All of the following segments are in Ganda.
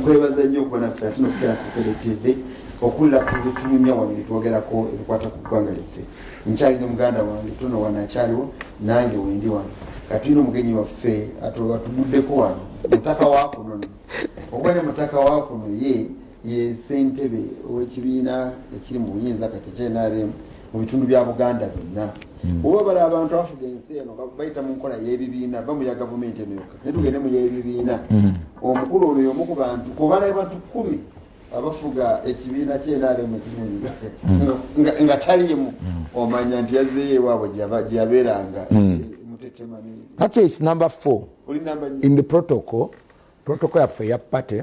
nkwebaza nnyo okuba naffe ate nokutera ku tele tv okulla ku bitunyumya wano byetwogerako ebikwata ku ggwanga lyaffe nkyali ne muganda wange tuno wano akyaliwo nange wendi wano katulina omugenyi waffe atuguddeko wano mutaka wakunono okubanya mutaka wakuno ye ye ssentebe ow'ekibiina ekiri mu buyinza kati knrm mu bitundu bya buganda byonna hmm. oba bala abantu abafuga ensi eno bayita mu nkola y'ebibiina va mu ya gavumenti eno yokka naye tugende mu y'ebibiina hmm. omukulu ono yomu ku bantu kubala bantu kumi abafuga ekibiina kyenrm ekirunga hmm. nga taliimu omanya nti yazeeyo ewaabwe gyeyabeeranga mutetemani number four in the protocol protocol yaffe ya party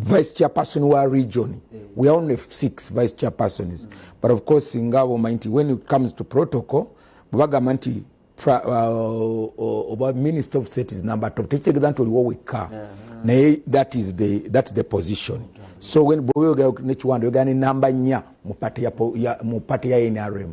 vice chairperson wa region eh. we are only six vice chairpersons but of course nga bwomanyi nti when it comes to protocol bwebagamba nti uh, oba minister of state is number top tekitegeeza nti oliwo wekka naye that is the, that is the position so when bweyogera nekiwanda oyogera ne namba nnya mu pate ya nrm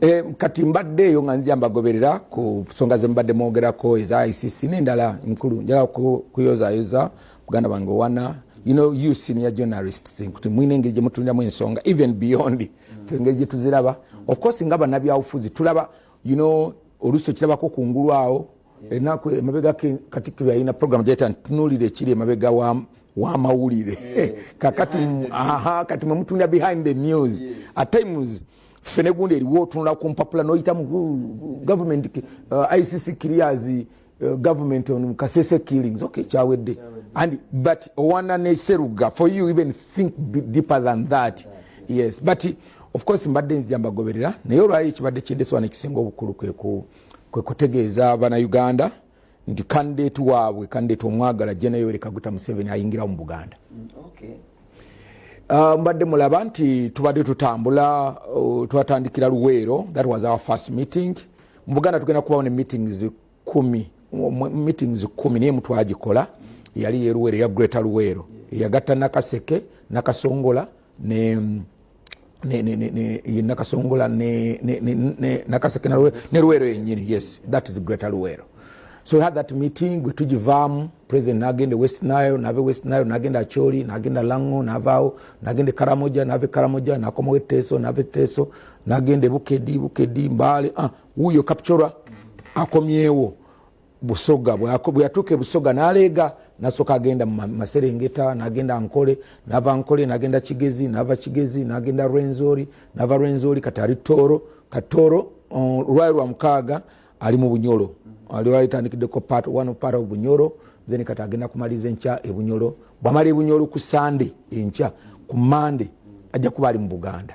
E, kati mbadde eyo nga nzija mbagoberera ku nsonga ze mubadde mwogerako eza icc nendala nkulu njaga kuyozayoza muganda wange owana you know you senior journalists nkuti mwine engeri gyemutuliramu ensonga even beyond mm. engeri gyetuziraba of course nga banabyabufuzi tulaba you know olusi okirabako kungulu awo enaku emabega katikkiro yalina program gyayita ntunulira ekiri emabega wamawulire eh, kakati kati mwemutunda behind the news at times ffe negundi eriwo otunula ku mpapula noyitamu government uh, icc clears uh, government on kasese killings okay kyawedde and but owana neseruga for you even think deeper than that yes but of course mbadde nzija mbagoberera naye olwayo ekibadde kyendeswa nekisinga obukulu kweku kwe kutegeeza banauganda nti kandidate waabwe kandidate omwagala jena yoweri kaguta museveni ayingirawo mu buganda mm, okay. Uh, mbadde mulaba nti tubadde tutambula uh, twatandikira luweero that was our first meeting mu buganda tugenda kubawo ne meetings kumi meetings kumi naye mutwagikola yali yeruweero eya greta luweero eyagatta nakaseke nakasongola ne ne ne ne ne ye nakasongola ne ne ne ne nakasekena lwe ne lwero yenyini yes that is greater lwero so we had that meeting we tujivamu president nagende west nile nave west nile nagenda acholi nagenda lango navao nagende karamoja nave karamoja nakomo weteso nave teso nagende bukedi bukedi mbali ah uyo kapchora akomyewo busoga bweyatuuka ebusoga naleega nasooka agenda maserengeta nagenda nkole nava nkole nagenda kigezi nava kigezi nagenda rwenzori nava rwenzori kati ali tooro katooro olwali lwa mukaaga ali mu bunyolo aliwalitandikiddeko part one part of bunyolo then kati agenda kumaliza enkya ebunyolo bwamala ebunyolo ku sande enkya ku mande ajja kuba ali mu buganda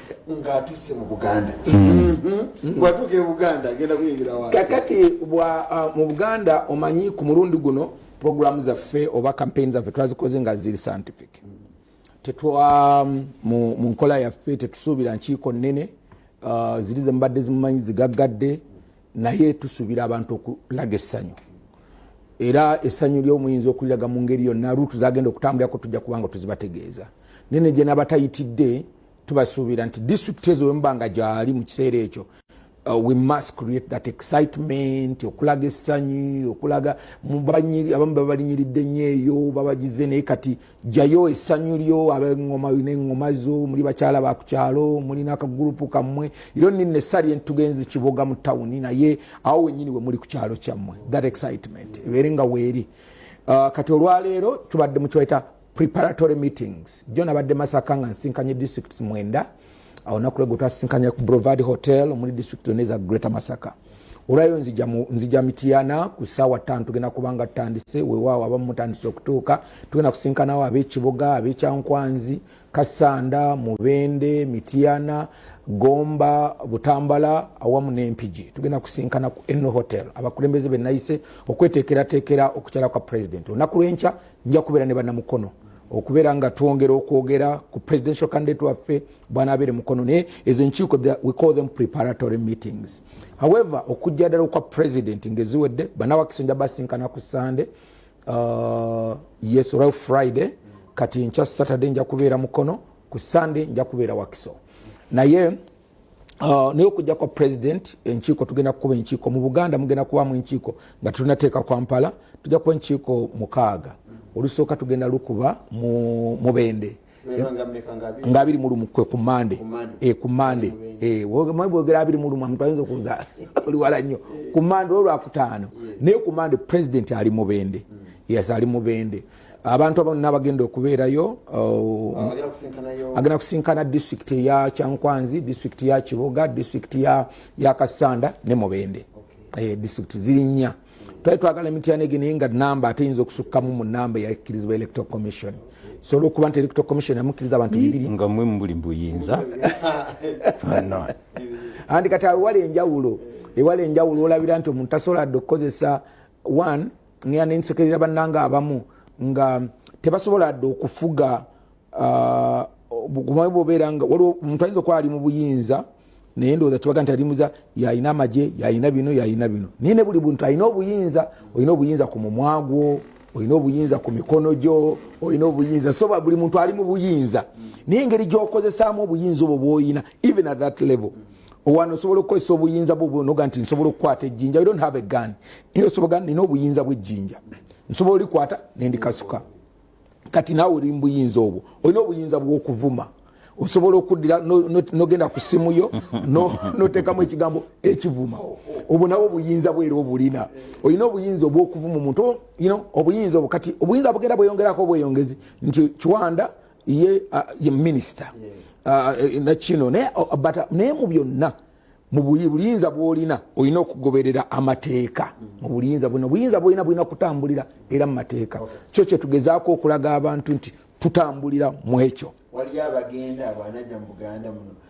ng'atuuse mu buganda mm-hmm. bwatuuka e buganda agenda kuyingira wa kakati uh, mu buganda omanyi ku mulundi guno programu zaffe oba kampeyini zaffe twazikoze nga ziri scientific tetwa um, mu nkola yaffe tetusuubira nkiiko nnene uh, ziri zemubadde zimumanyi zigaggadde naye tusuubira abantu okulaga essanyu era essanyu lyomuyinza okuliraga mu ngeri yonna ruutu zagenda okutambulirako tujja kubanga tuzibategeeza naye negyenabatayitidde tubasuubira nti disitulikiti ezo wemuba nga gyali mu kiseera ekyo uh, we must create that excitement okulaga essanyi okulaga abamu babalinyiridde nnyo eyo babagize naye kati jayo essanyu lyo abengoma nengoma zo muli bakyala ba ku kyalo mulina akagurupu kammwe ero nina essali entugenzi kiboga mu tawuni naye awo wenyini we muli ku kyalo kyammwe that excitement ebeere nga weeri uh, kati olwaleero tubadde mukiwaita preparatory meetings jo nabadde masaka nga nsinkanye districts mwenda awo naku lwegwe twasinkanya ku brovad hotel omuli district yona eza greater masaka olwayo nzija mitiyana ku saawa tano tugenda kubanga tutandise wewaawo abamu mutandise okutuuka tugenda kusinkanawo abekiboga abekyankwanzi kasanda mubende mitiyana gomba butambala awamu nempigi tugenda kusinkana ku eno hotel abakulembeze benayise okwetekeratekera okukyala kwa president olunaku lwenkya nja kubeera ne banamukono okubeera nga twongera okwogera ku presidential candidate waffe bwanabeere mukono naye ezo enkiiko we call them preparatory meetings however okujja ddala okwa president ngeziwedde banawakisi nja basinkana ku sande uh, yes olwa friday kati nkya saturday nja kubeera mukono ku sande nja kubeera wakiso naye Uh, naye okujja kwa president enkiiko tugenda kukuba enkiiko mu buganda mugenda kubamu enkiiko nga tetunateeka kwampala tujja kuba enkiiko mukaaga olusooka tugenda lukuba mubende nga abiri mulumu kwe ku mande ku mande eh, eh, bwogera abiri mulumu omuntu ayinza okuza oliwala nnyo ku mande olwakutaano naye ku mande president ali mubende mm. yas ali mubende abantu abano nabagenda okubeerayo uh, agenda kusinkana district ya kyankwanzi district ya kiboga district ya kasanda ne mubende eh, district ziri nnya twali twagala emityana egyo naye nga namba ate yinza okusukkamu mu namba eyakkirizibwa electoral commission so olwokuba nti electoral commission yamukkiriza abantu hmm. bibiri nga mwe mubuli mbuyinza andi kati awewala enjawulo ewala enjawulo olabira nti omuntu tasobola dde okukozesa one ngenda nensekerera bannanga abamu nga tebasobola dde okufuga uh, obugumawe bwobeera nga waliwo omuntu ayinza okuba ali mu buyinza naye ndowooza tubaga nti alimuza yalina amagye yalina bino yalina bino naye ne buli buntu alina obuyinza olina obuyinza ku mumwa gwo olina obuyinza ku mikono gyo olina obuyinza so buli muntu ali mu buyinza naye engeri gyokozesaamu obuyinza obwo bwoyina even at that level owano osobola okukozesa obuyinza bwonoga nti nsobola okukwata ejjinja don't have a gun naye osobola nina obuyinza bwejjinja nsobola olikwata nendikasuka kati naawe oli mubuyinza obwo olina obuyinza bwokuvuma osobola okuddira nogenda ku simu yo notekamu ekigambo ekivuma obwo nabwo obuyinza bwera obulina olina obuyinza obwokuvuma omuntu obuyinza obwo kati obuyinza bugenda bweyongerako obweyongezi nti kiwanda ye uh, ye minister uh, eh, nakino naye oh, naye mu byonna mu buyinza bwolina olina okugoberera amateeka mm. mu buyinza bwona buyinza bwolina bulina kutambulira era mu mateeka kyo kyetugezaako okulaga abantu nti tutambulira mu ekyo waliyo abagenda abanaja mu buganda muno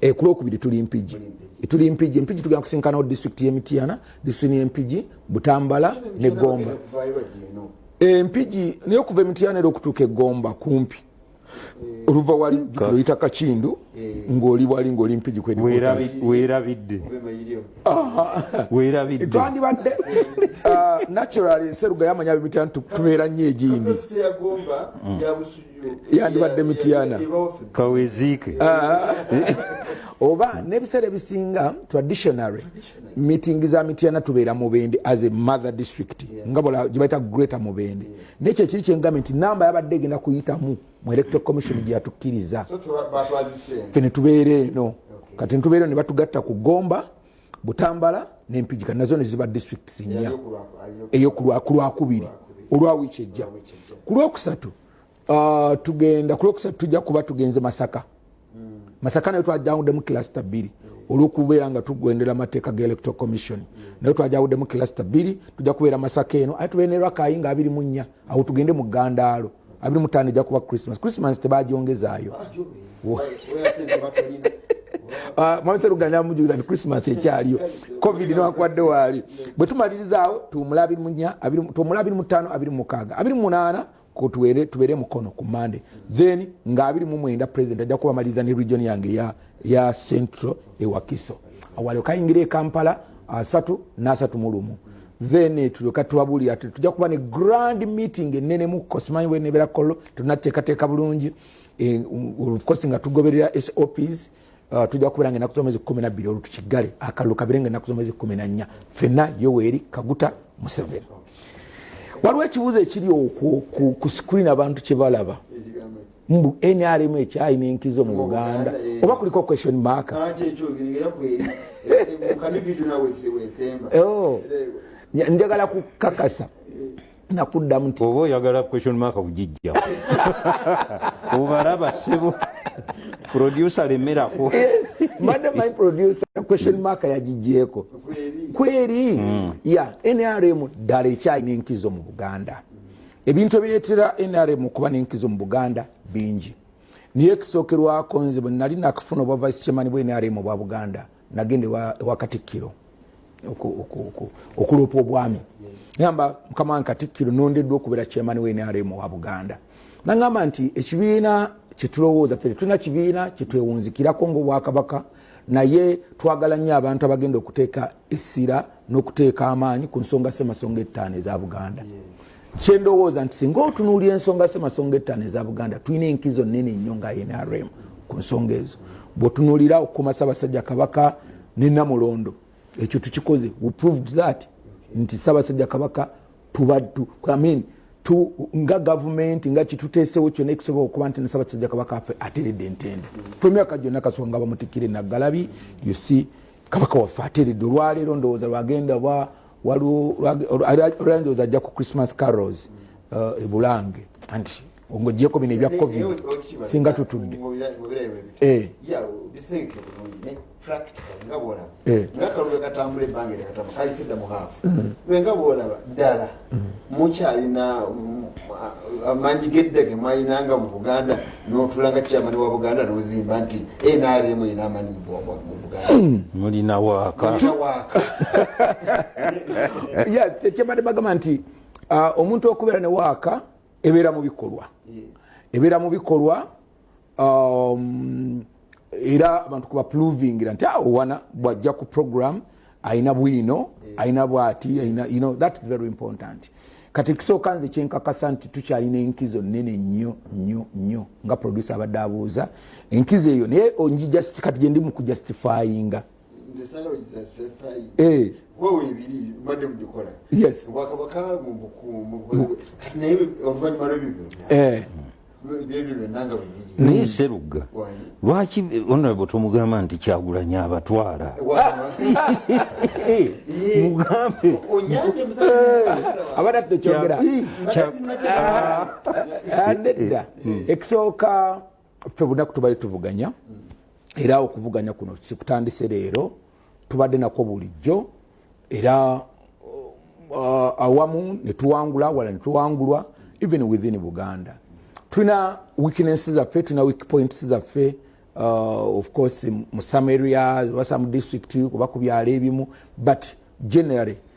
e ku lwokubiri tuli mpigi tuli mpigi mpigi tugenda kusinkanawo disitulikiti y'emityana disitulikiti y'empigi butambala ne gomba empigi eh, naye okuva emityana era okutuuka egomba kumpi eh. oluva wali oyita kakindu eh. ngaoli wali ngaoli mpigi kwewerabidde twandibadde ah, naturally seruga yamanya bimityana tubeera nnyo egindi mm. yandibadde mityana kaweziike ah. oba n'ebiseera ebisinga traditionary meeting za mityana tubeera mubende as a mother district nga bola gyebaita greater mubende naye kyekiri kyengambe nti namba yabadde egenda kuyitamu mu electoral commission gyeyatukkiriza fe ne tubeera eno kati netubeera eno ne batugatta ku gomba butambala nempijika nazo neziba districts nnya eyo kulwakubiri olwa wiiki ejja ku lwokusatu uh, tugenda ku lwokusatu tujja kuba tugenze masaka hmm. masaka nayo twajawudemu kilasita bbiri olwokubeera nga tugwendera amateeka ga electoral commission hmm. naye twajawudemu kilasita bbiri tujja kubeera masaka eno aye tubeere ne rakayi nga abiri mu nnya awo tugende mu gandaalo abiri mutaano ejja kuba christmas christmas tebagyongezaayo ah, mwamisa luganda mujuliza nti christmas ekyaliyo covid newakwadde waali bwe tumalirizaawo tuwumula abiri munya tuwumula abiri mutaano abiri mukaaga abiri munaana kutwere tubere mukono ku mande then nga abiri mu mwenda president ajja kubamaliriza ne region yange ya, ya central ewakiso awalio kayingira e kampala asatu n'asatu mu lumu then tulyoka tubabulira ti tujja kuba ne grand meeting enene mu kosimanyi wenebera kolo tunateekateeka bulungi eh, ofcourse nga tugoberera sops uh, tujja kubeera nga enaku zomwezi kumi nabbiri olwo tukigale akalulu kabere nga enaku zomwezi kumi na nnya fenna yoweri kaguta museveni waliwo ekibuuzo ekiri okwo ku screen abantu kyebalaba mbu nrm ekyalina enkizo mu uganda eh. oba kuliko question mark ah, eh, oh. njagala kukakasa eh. nakuddamu nti oba oyagala question mark kugijja obalaba sebo producer lemerako mbadde my producer question mm. mark yagijjeeko kweri mm. ya nrm ddala ekyalina enkizo mu buganda ebintu ebireetera nrm okuba n'enkizo mu buganda bingi naye ekisookerwako nze bwe nali nakafuna obwa vice chairman bwa nrm obwa buganda nagenda ewa katikkiro okuloopa obwami gamba mukama wange katikkiro nondeddwa okubeera chairman wa nrm owa buganda nagamba nti ekibiina kyetulowooza fe tetulina kibiina kyetwewunzikirako ngaobwakabaka naye twagala nnyo abantu abagenda okuteeka essira n'okuteeka amaanyi ku nsonga ssemasonga ettaano eza buganda kyendowooza nti singa otunuulira ensonga ssemasonga ettaano eza buganda tulina enkizo nene nnyo nga nrm ku nsonga ezo bwotunuulira okukuma sabasajja kabaka ne namulondo ekyo tukikoze we proved that nti sabasajja kabaka tubaddu I mean, tu, nga gavumenti nga kituteesewo kyona ekisobola okuba nti nasabasajja kabaka afe ateredde entende mm. fe emyaka gyonna kasonga bamutikire naggalabi you see kabaka waffe ateredde olwaleero ndowooza lwagenda wa waliwo olwandowooza ajja ku christmas carrols uh, ebulange anti ngojeko bino ebya covid singa tutudde eh. nga bwolaba mm. nga kalulu katambula ebbanga eryakatamba kayise dda muhaafu mm. nga bwolaba ddala mukyalina mm, amanyi geddage mwayinanga mu buganda notulanga kyamani wa buganda nozimba nti nrm ina amanyi mubugandamulina hmm, wakakyebadde bagamba nti uh, omuntu okubeera ne waaka ebeera mu bikolwa ebeera mu bikolwa um, era abantu kubapluvingira nti awo ah, wana bwajja ku program alina bwino alina bwati alina you know that is very important kati ekisooka nze kyenkakasa nti tukyalina enkizo nene nnyo nnyo nnyo nga producer abadde abuuza enkizo eyo naye onji just kati gyendi mu kujustifyinga Eh. wewe ebiri mbadde mubikola obwakabaka naye oluvanyuma lwebibyo eh. naye serugga lwaki honorable tomugamba nti kyagulanyi abatwala mugambe abana tekyogera ekisooka ffe bunaku tubadde tuvuganya era okuvuganya kuno sikutandise leero tubadde nakwo bulijjo era uh, awamu netuwangula wala netuwangulwa even within buganda tulina weakness zaffe tulina weak points zaffe uh, of course mu some areas oba some district oba ku byalo ebimu but generally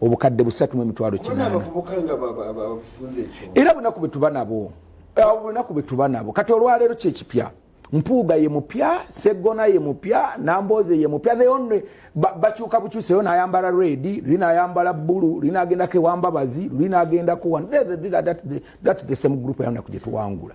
obukadde busatu mu emitwalo kinaana era bunaku bwe tuba nabo obunaku bwe tuba nabo kati olwaleero kyekipya mpuuga ye mupya seggona ye mupya nambooze ye mupya the only bakyuka bukyuseyo nayambala redi luli nayambala bulu luli nagendako ewambabazi luli nagendakowan thats the same group yanaku gyetuwangula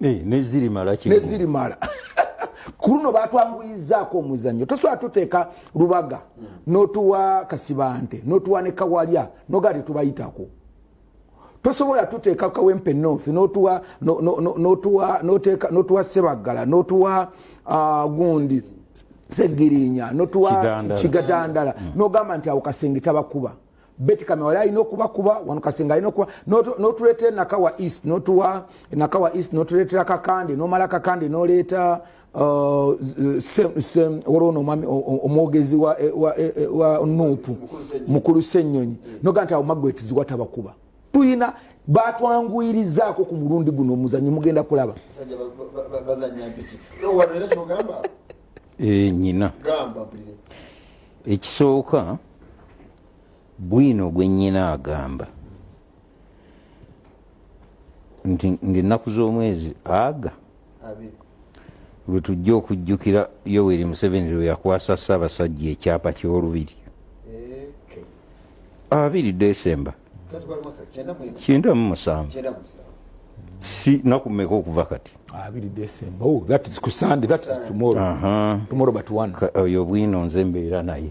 eh, nezirimala ku luno batwanguyizaako omuzannyo tosobola tuteeka lubaga notuwa kasibante notuwa ne kawalya nogaa tetubayitako tosobola tuteeka kawempe north notuwa sebaggala notuwa uh, gundi segirinya notuwa kigadandala mm. nogamba nti awo kasenge tabakuba mm. beti kamewala alina okubakuba wano kasenga alina okuba notuleetera nakawa east notuwa nakawa east notuleetera kakande nomala kakande noleeta uh, olwono omwogezi wa eh, eh, eh, nupu mukulu senyonyi noga nti awo magwetiziwa tabakuba tuyina batwanguyirizaako ku mulundi guno omuzanyo mugenda kulaba nyina ekisooka bwino gwe nnyina agamba nti ngaennaku z'omwezi aga lwe tujja okujjukira yoweri museveni lwe yakwasa ssaabasajja ekyapa ky'olubiri abiri desemba kyenda mu musanvu si nakumeka okuva kati oh, oyo obwino nze mbeera naye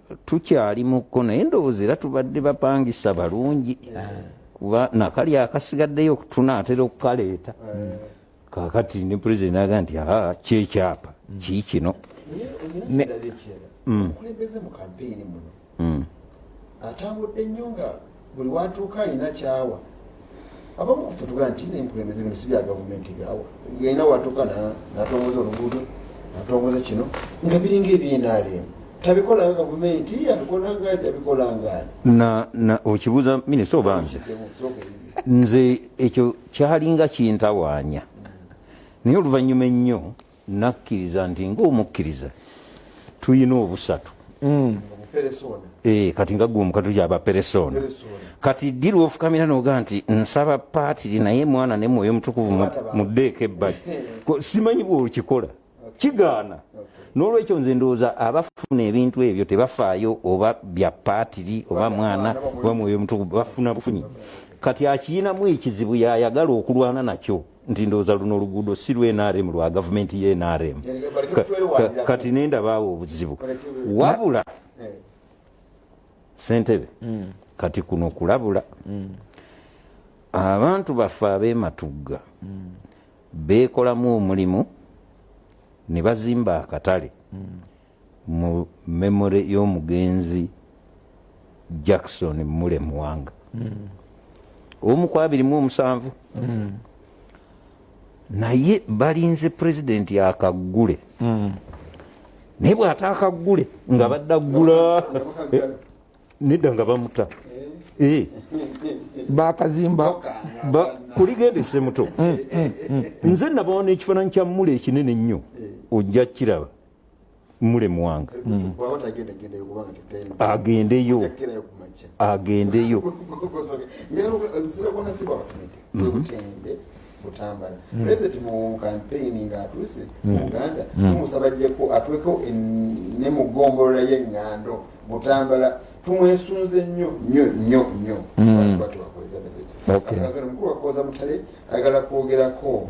tukyali mukko naye ndowooza era tubadde bapangisa balungi kuba nakali akasigaddeyo tunaatera okukaleeta kakati ne president aga nti aa kyekyapa kiikino atambudde nnyo nga buli watuuka alina kyawa abamu kufutuga nti nenkulembeze bino sibya gavumenti gawa gaina watuuka natongoza oluguudo natongoza kino nga biringa ebyenaleemu tabikolanga gavumenti abikolanga tabikolanga okibuuza minisita obanze nze ekyo kyalinga kintawaanya naye oluvannyuma ennyo nakkiriza nti ngaomukkiriza tulina obusatu mm. eh, kati nga gwe omukatu gyaba peresona kati ddi lwofukamira noga nti nsaba paatiri naye mwana ne mwoyo mutukuvu muddeeko ebbali simanyi bwokikola kigaana nolwekyo nze ndowooza abafuna ebintu ebyo tebafaayo oba bya paatiri oba mwana oba mwoyo mutukuvu bafuna bufunyi kati akiyinamu ekizibu yayagala okulwana nakyo nti ndowooza luno oluguudo si lw nrm lwa gavumenti ye nrm kati nendabaawo obuzibu wabula eh. sentebe hmm. kati kuno kulabula hmm. abantu baffe abematugga hmm. beekolamu omulimu ne bazimba akatale mu memory y'omugenzi Jackson Mule Muwanga mm. omu ku abiri mu omusanvu mm. naye balinze pulezidenti akaggule mm. naye bw'ataakaggule nga badda ggula eh, nedda nga bamuta eh. Eh. bakazimba kuligenda esemuto mm, mm, nze nabawa n'ekifaananyi kya mule ekinene ennyo ojja kiraba mulemwanga hmm. agendeyo agendeyo butambala hmm. president mu campaign nga atuuse mu hmm. uganda tumusaba jeko atweko ne mu gombolola ye ngando butambala tumwesunze nnyo nnyo nnyo nnyo batubakozesa message mukulu wakoza mutale ayagala kwogerako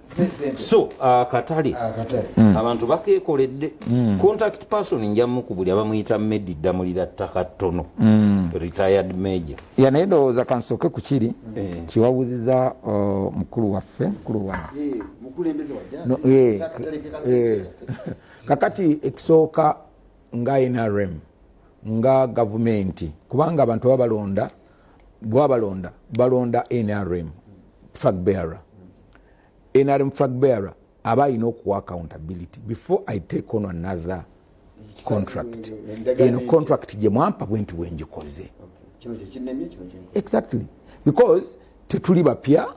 so akatale ah, ah, hmm. abantu bakekoledde hmm. contact person njamuku buli abamuyita medi ddamulira ttaka ttono hmm. retired major ya naye ndowooza kansooke ku kiri eh. kiwawuziza uh, mukulu waffe mukulu wa eh, eh, kakati ekisooka nga nrm nga gavumenti kubanga abantu baba balonda bwabalonda balonda nrm flag bearer nrm flag bearer aba alina okuwa accountability before i take on another contract eno contract gye mwampa bwenti bwengikoze exactly because tetuli bapya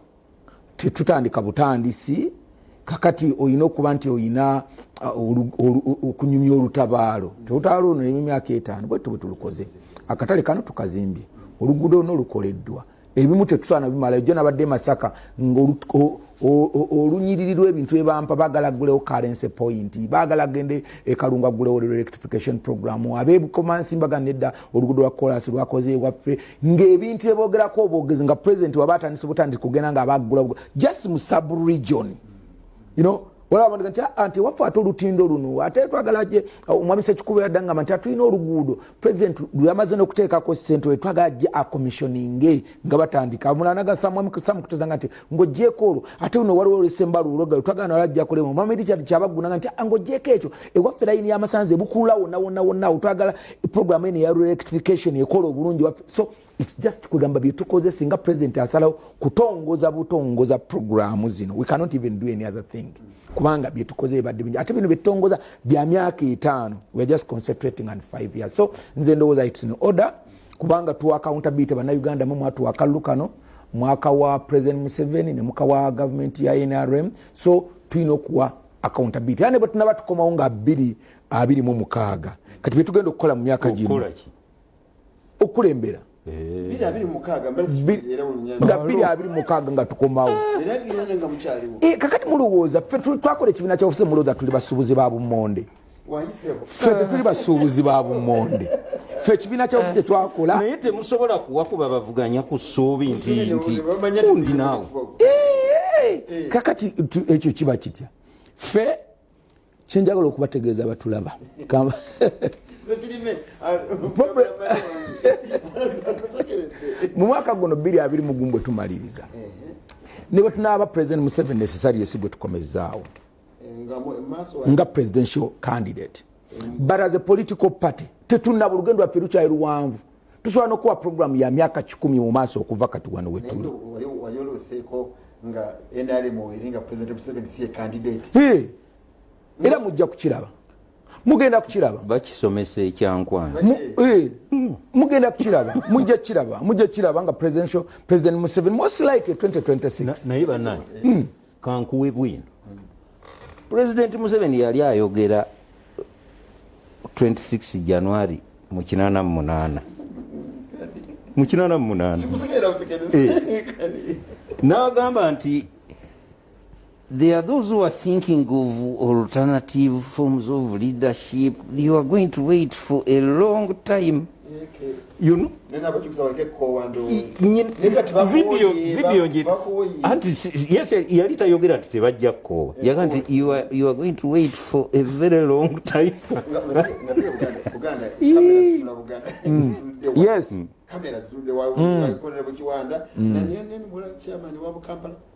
tetutandika butandisi kakati olina okuba nti olina uh, okunyumya olutabaalo olutabaalo luno nemumyaka etaano bwettu bwetulukoze akatale kano tukazimbye oluguudo luno lukoleddwa ebimu tetusaana bimala ejo nabadde masaka nga olunyiriri lwebintu ebampa bagala gulewo currency point bagala gende ekalunga gulewo electrification program abebukomansi mbaga nedda olugudo lwa kolasi lwakoze ewaffe ng'ebintu eboogerako obwogezi nga president waba atandise butandisi kugenda nga abaggula just mu subregion you know olabanga nti ah, anti waffe ate olutindo luno ate twagala je ah, omwami sekikubo yaddangamba nti atulina oluguudo president lweyamaze nokuteekako sente we twagala je akomissioninge nga batandika omulana gasamwami samu kutezanga nti ng'ogyeko olwo ate uno waliwo olwesemba luuloga lutwagala nalo ajja kulema omwami richard kyabagunanga nti ah, ng'ogyeko ekyo ewaffe layini y'amasanzi ebukulula wonna wonna wonna awo twagala programu eno eya rectification ekola obulungi waffe so its just kwegamba byetukoze singa president asalawo kutongoza butongoza programu zino we cannot even do any other thing kubanga byetukoze ebadde bingi ate bino byetutongoza bya myaka etaano weare just concentrating on five years so nze ndowooza its in order kubanga tuwa accountability bannayuganda mu mwatuwa akalulu kano mwaka wa president museveni ne muka wa gavumenti ya nrm so tulina okuwa accountability era nebwe tunaba tukomawo nga abiri abiri mu mukaaga kati byetugenda okukola mu myaka gino okukulembera eh. nga biri abiri mukaaga nga tukomawo eh, kakati mulowooza fe twakola ekibiina kya ofuse mulowooza tuli basubuzi ba bumonde ffe tetuli basuubuzi ba bumonde ffe ekibiina kyabufu kyetwakola naye temusobola kuwakuba bavuganya ku ssuubi ntiundi naawe eh. kakati ekyo kiba kitya ffe kyenjagala okubategeeza batulaba mu mwaka guno biri abiri mugumu bwe tumaliriza ne bwe tunaaba president museveni esisali yesi gwe tukomezaawo nga presidential candidate but as a political party tetunaba olugendo lwaffe lukyali luwanvu tusobola nokuwa programu ya myaka kikumi mu maaso okuva kati wano wetuli era mujja kukiraba mugenda kukiraba bakisomesa ekyankwana eh, hmm. mugenda kukiraba mujja kukiraba mujja kukiraba nga president museveni most like 2026 naye banaye hmm. kankuwe bwino pulezidenti museveni yali ayogera 26 january mu 88 mu 88 eh. n'agamba nti there are those who are thinking of alternative forms of leadership you are going to wait for a long time you know yes yali tayogera nti tebajja kukoowa yaga nti you are going to wait for a very long time yes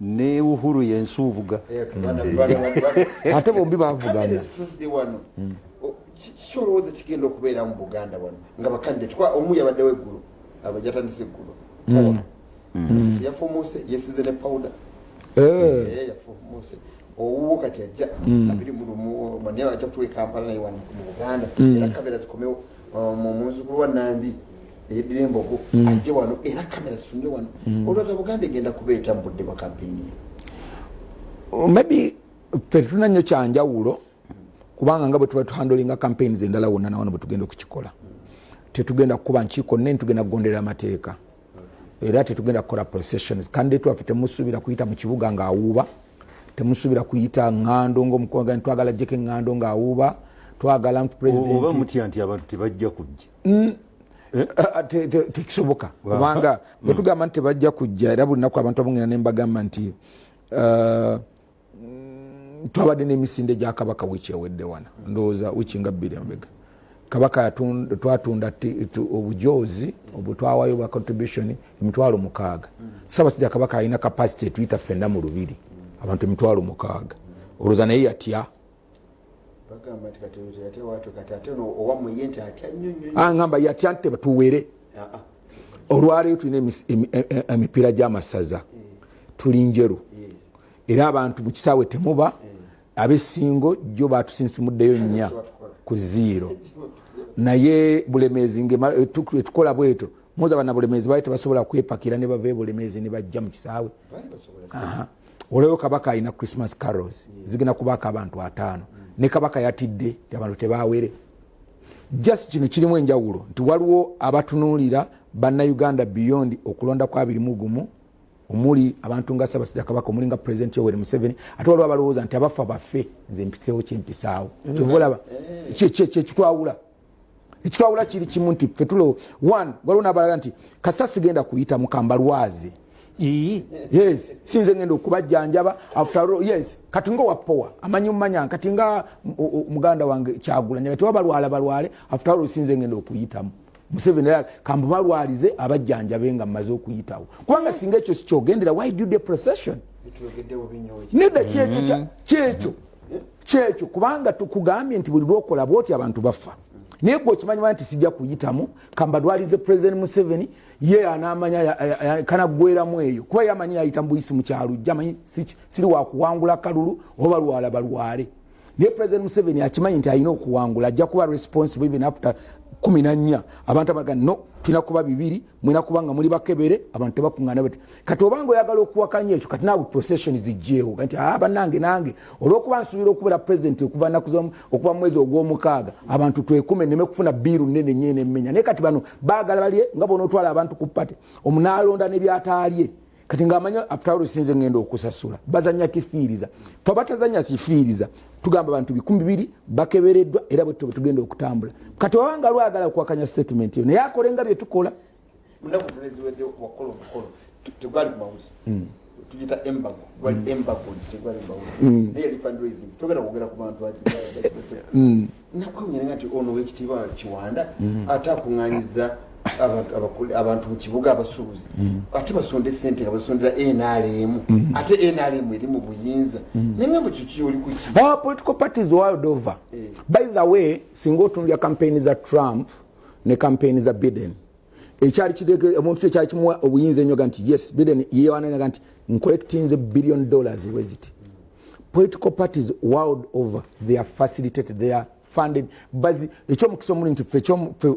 ne uhuru yensuuvuga eh, eh. ate bombi bavugana hmm. kiki olowooza kigenda okubeera mu buganda wano nga bakandidate kuba omu yabaddewo eggulu abajatandise eggulu hmm. hmm. yafuumuuse yesize ne powuda eh. yafuumuuse owuwo kati ajja abiri mulumu mane ajja kutuwa ekampala naye wano mu buganda era kamera zikomewo omu muzukulu wa nambi eyeddira embogo mm. ajje wano era kamera zifunire wano mm. olwaza buganda egenda kubeeta mu budde bwa kampeyini oh, maybe fe tetulina nnyo kyanjawulo kubanga nga bwe tuba tuhandolinga campaigns endala wonna nawano bwe tugenda okukikola tetugenda kukuba nkiiko nnene tugenda kugonderera amateeka era tetugenda kukola processions kandi twaffe temusuubira kuyita mu kibuga ng'awuuba temusubira kuyita ŋŋando ngaomukoga twagala jjeko eŋŋando ng'awuuba twagala nti presidentioba mutya nti abantu tebajja kujja mm. eh? ah, ah, tekisoboka kubanga mm. bwetugamba nti tebajja kujja era buli naku abantu abongera ne mbagamba nti uh, twabadde n'emisinde gya kabaka wiiki ewedde wana ndowooza wiiki nga bbiri embega kabaka twatunda obujoozi obutwawayo bwa contribution emitwalo mukaaga sabasajja kabaka alina capacity etuyita fenna mu lubiri abantu emitwalo mukaaga olwoza naye yatya angamba yatya nti tuwere ah, ah. olwaleero tulina e, e, e, emipiira gy'amasaza eh. tuli njeru eh. era abantu mu kisaawe temuba eh. abesingo jjo batusinsimuddeyo nnya ku ziiro naye bulemeezi ngetukola eh, bweto muza bana bulemeezi bali tebasobola kwepakira ne bava ebulemeezi ne bajja mu kisaawe olweo kabaka alina christmas carols zigenda kubaako abantu ataano ne kabaka yatidde ti abantu tebawere just kino kirimu enjawulo nti waliwo abatunuulira bannayuganda beyond okulonda kwabirimu gumu omuli abantu nga sabasajja kabaka omuli nga president yoweri museveni ate waliwo abalowooza nti abafa baffe nze mpitewo kyempisaawo mm. kyovolaba kyekitwawula ekitwawula kiri kimu nti fe tulo one waliwo nabalaga nti kasa sigenda kuyita mukambalwazi yes sinze ngenda okubajjanjaba yes kati nga owapowa amanyi mumanya kati nga muganda wange kyagulanya kati wabalwala balwale after all sinze ngenda okuyitamu museveni era kambubalwalize abajjanjabe nga mmaze okuyitawo kubanga singa ekyo sikyogendera why do the procession nedda kyekyo mm-hmm. kyekyo kyekyo kubanga tukugambye nti buli lwokola bwoti abantu bafa naye gwe okimanyiwa nti sijja kuyitamu kambadwalize president museveni ye anamanya kanagweramu eyo kuba yamanyi yayita mubuyisi mukyalujja manyi siri wakuwangula kalulu oba balwala balwale naye president museveni akimanyi nti alina okuwangula ajja kuba responsible even after kumi nanya abantu abaga no tulina kuba bibiri mulina kuba nga muli bakebere abantu tebakuŋana bati kati obanga oyagala okuwakanya ekyo kati naawe procession zijjeewo nti a ah, banange nange olwokuba nsuubira okubeera president okuva naku okuva mu mwezi ogw'omukaaga abantu twekume neme kufuna biiru nene nyo enemenya naye kati bano baagala balye nga bona otwala abantu ku pate omunaalonda ne byataalye kati ngaamanya afutawolo sinze ngenda okusasula bazanya kifiiriza fe abatazanya kifiiriza tugamba abantu bikumi bibiri bakebereddwa era bwetto bwetugenda okutambula kati wabanga lwagala kuwakanya statement yo naye akole nga byetukola tugita embago wali mm. embago nti tegwali mbago mm. naye yali fundraising togenda kwogera ku bantu ati mm. nakwewunyanga nti ono wekitiibwa kiwanda mm. ate akuŋŋanyiza abantu mu kibuga abasuubuzi mm. ate basonda esente nga basondera nrm mm. ate nrm eri mu buyinza mm. naye nga mukyuki oli kuki ah, political parties world over eh. by the way singa otunulya kampeyini za trump ne kampeyini za biden ekyali kidege omuntu kye kyali kimuwa obuyinza ennyo ga nti yes biden yewananaga nti ncollectinze billion dollars weziti political parties world over they are facilitated they are funded bazi ekyomukisa omuli nti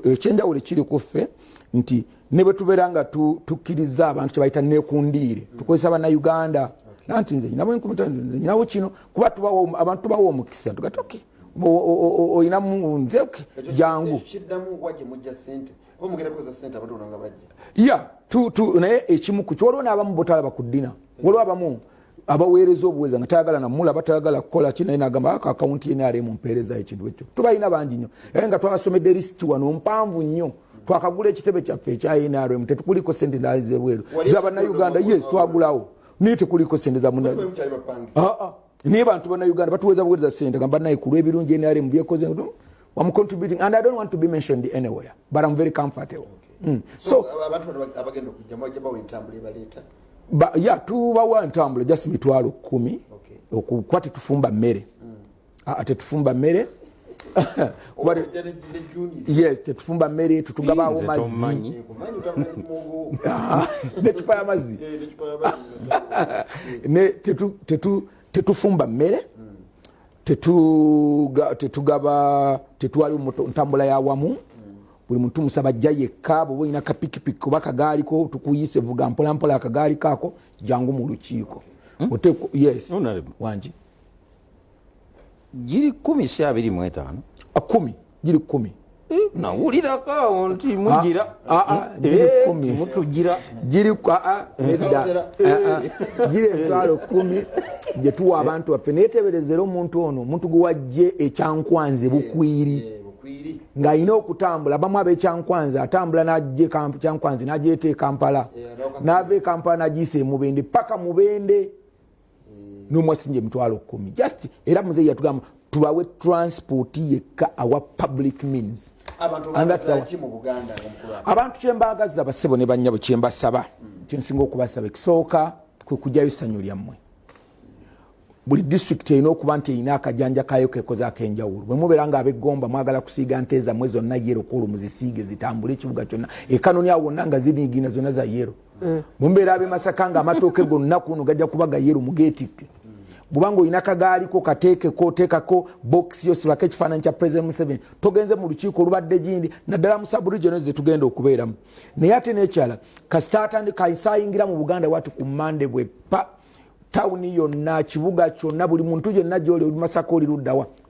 ekyenjawulo ekiri ku ffe nti ne bwe tubeera nga tukkiriza abantu kye bayita nekundiire tukozesa banauganda nanti nze nyinawo enkumi nyinawo kino kuba tubawo abantu tubawo omukisa tugatoke okay. olina munze jangu ya naye ekimu ku kyewaliwo n'abamu botalaba ku ddina waliwo abamu abaweereza obuweereza nga tayagala namulaba tayagala kukola ki naye nagamba ako akawunti ye nayali mumpeereza ekintu ekyo tubalina bangi nnyo era nga twabasomedde lisiti wano mpanvu nnyo twakagula ekitebe kyaffe ekya nrm tetukuliko sente ndazebweru zabannauganda yes twagulawo naye tekuliko sente zamunaa ah, ah. naye bantu bana uganda batuweza buweza sente nga banaye ku lw'ebirungi nrm byekoze I'm contributing and I don't want to be mentioned anywhere but I'm very comfortable okay. mm. so ba, ya tubawa ntambula just mitwalo kumi okay. okukuba tetufumba mmere mm. ate tufumba mmere yes tetufumba mmere tetugabaawo mazzi ah, necupa ya mazzi tetufumba mmere tetugaba tetwaliwo ntambula yawamu buli muntu musaba jja yekka bwoba olina kapikipiki oba kagaaliko tukuyise vuga mpolampola akagaali kaako jangu mu lukiiko hmm? oteeko yes wangi giri kumi si abiri mu etaano ah, kumi giri kumi eh, nawulirako awo nti ah, mugira ah, eh, mutugira giri emitwalo kumi gye tuwa abantu baffe naye teberezera omuntu ono omuntu gwe wajje ekyankwanze bukwiri ng'alina okutambula bamu abekyankwanzi atambula najje kyankwanzi nagyeeta ekampala nava ekampala nagyisa emubende paka mubende n'omu asinja emitwalo kumi just era muzeeyi yatugamba tubawe transport yekka awa public means abantu kyembaagaza basebo ne bannyabo kyembasaba hmm. kyensinga okubasaba ekisooka kwe kujjayo essanyu lyammwe buli disitulikiti erina okuba nti erina akajanja kayo kekoze akenjawulo bwe mubeera nga abegomba mwagala kusiiga nte zammwe zonna yero kwolwo muzisiige zitambule ekibuga kyonna ekanoni awo wonna nga ziniigina zonna za yero mm. mumbeera abe masaka nga amatooke gonna kuno gajja kuba gayeru mugetikke bwubanga olina kagaaliko kateekeko teekako bokisi yosibako ekifaananyi kya president museveni togenze mu lukiiko olubadde gindi naddala mu sabregional zetugenda okubeeramu naye ate nekyala kasita atandi kaisayingira mu buganda wati ku mande bwe pa tawuni yonna kibuga kyonna buli muntu yenna gyoli oli masaka oli luddawa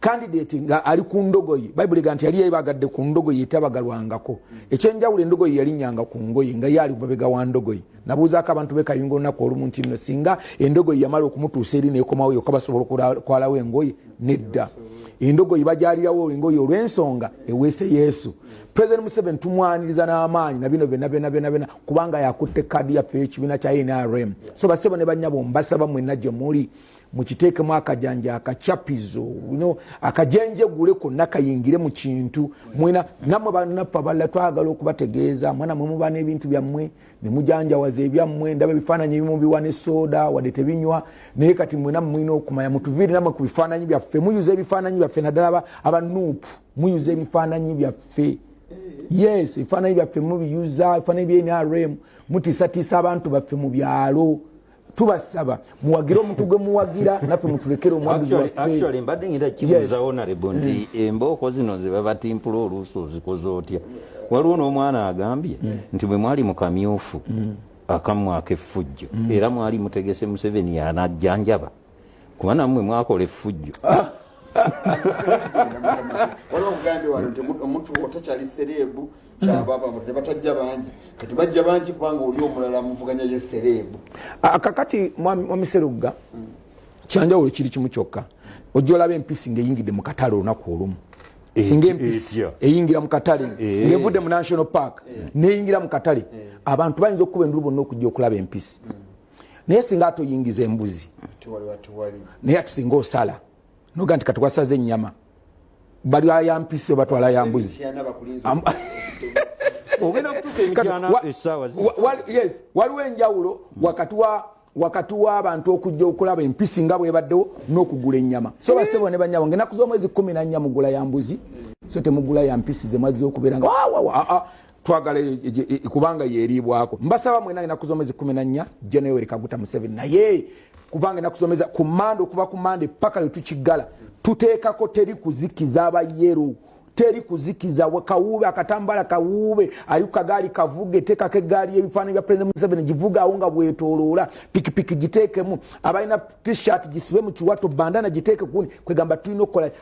kandidate nga ali ku ndogoyi bayibuli ga nti yali yebagadde ku ndogoyi etabagalwangako ekyenjawulo endogoyi yalinyanga ku ngoyi nga yaali mabega wa ndogoyi nabuuzaako abantu bekayunga olunaku olumu nti no singa endogoyi yamala okumutuusa eri nekomawo yoka basobola okwalawo engoyi nedda endogoyi bajalirawo engoyi olwensonga eweese yesu president museven tumwaniriza n'amaanyi nabino byona byona byona byona kubanga yakutte kaadi yaffe ekibiina kya nrm so basebo ne banyabo mbasaba mwena gye muli mukiteekemu akajanja akacapizo no akajenjegule konna kayingire mu kintu mwena namwe banaffe abalala twagala okubategeeza mwana mwe muba n'ebintu byammwe ne mujanjawaza ebyammwe ndaba ebifaananyi ebimu biwa ne sooda wadde tebinywa naye kati mwena mulina okumanya mutuviire namwe ku bifaananyi byaffe muyuza ebifaananyi byaffe naddala abanuupu muyuza ebifaananyi byaffe yes ebifaananyi byaffe mubiyuza ebifaananyi bya nrm mutiisatiisa abantu baffe mu byalo tubasaba muwagire omuntu gwe muwagira naffe mutulekere omwagizi waffe mbadde ngira kibuuza onarebo nti mm. embooko zino ze babatimpula oluusi ozikoze otya waliwo n'omwana agambye mm. nti bwe mwali mu kamyufu mm. akamwaka effujjo era mwali mutegese museveni yanajjanjaba kuba namwe mwakola effujjo waliwo obugambi wano nti omuntu otakyali sereebu kyabababude batajja bangi kati bajja bangi kubanga oli omulala muvuganya ye sereebu ah, kakati mwamiserugga hmm. kyanjawulo kiri kimu kyokka ojja olaba empisi ngaeyingidde mu katale olunaku olumu eh, singa eh, empisi eyingira mu katale eh. ngevudde mu national park neyingira mu katale abantu bayinza okukuba endulu bonna okujja okulaba empisi hmm. naye singa atoyingiza embuzi naye ati singa osala noga nti kati wasaze enyama bali ayampisi obatwala yambuzi waliwo enjawulo wakati wa wakati w'abantu okujja okulaba empisi nga bwebaddewo n'okugula ennyama so basebo ne banyabo nga enaku z'omwezi kumi nannya mugula ya mbuzi so temugula ya mpisi ze mwazza okubeera nga wawawa twagala e, e, e, kubanga yeriibwako mbasaba mwena enaku zomwezi kumi nanya jenoyoweri kaguta museveni naye kubanga enaku zomeza ku mande okuva ku mande paka lwetukiggala tuteekako teri kuzikiza abayeru teri kuzikiza kawuube akatambala kawuube ali kukagaali kavuge teekako eggaali y'ebifaananyi bya president museveni givugaawo nga bwetoloola pikipiki giteekemu abalina t-shirt gisibe mu kiwato bandana giteeke kuni kwegamba tulina okukola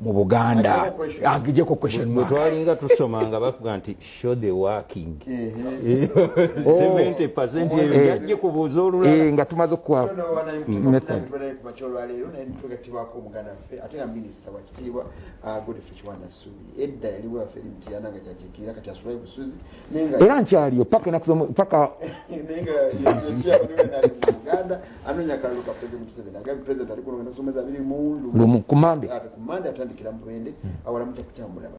mu buganda agijeko kwetwalinga tusoma nga bakuga nti show the working 70 percent eyo yajje kubuuza olulala eh, nga tumaze okuwa era nkyaliyo paka enaku paka anonya kalulu ka president museveni agambye president ali kulonda nsoma zabiri mu lumu kumande ate kumande atandikira mubende mm. awalamu kyakukyamulaba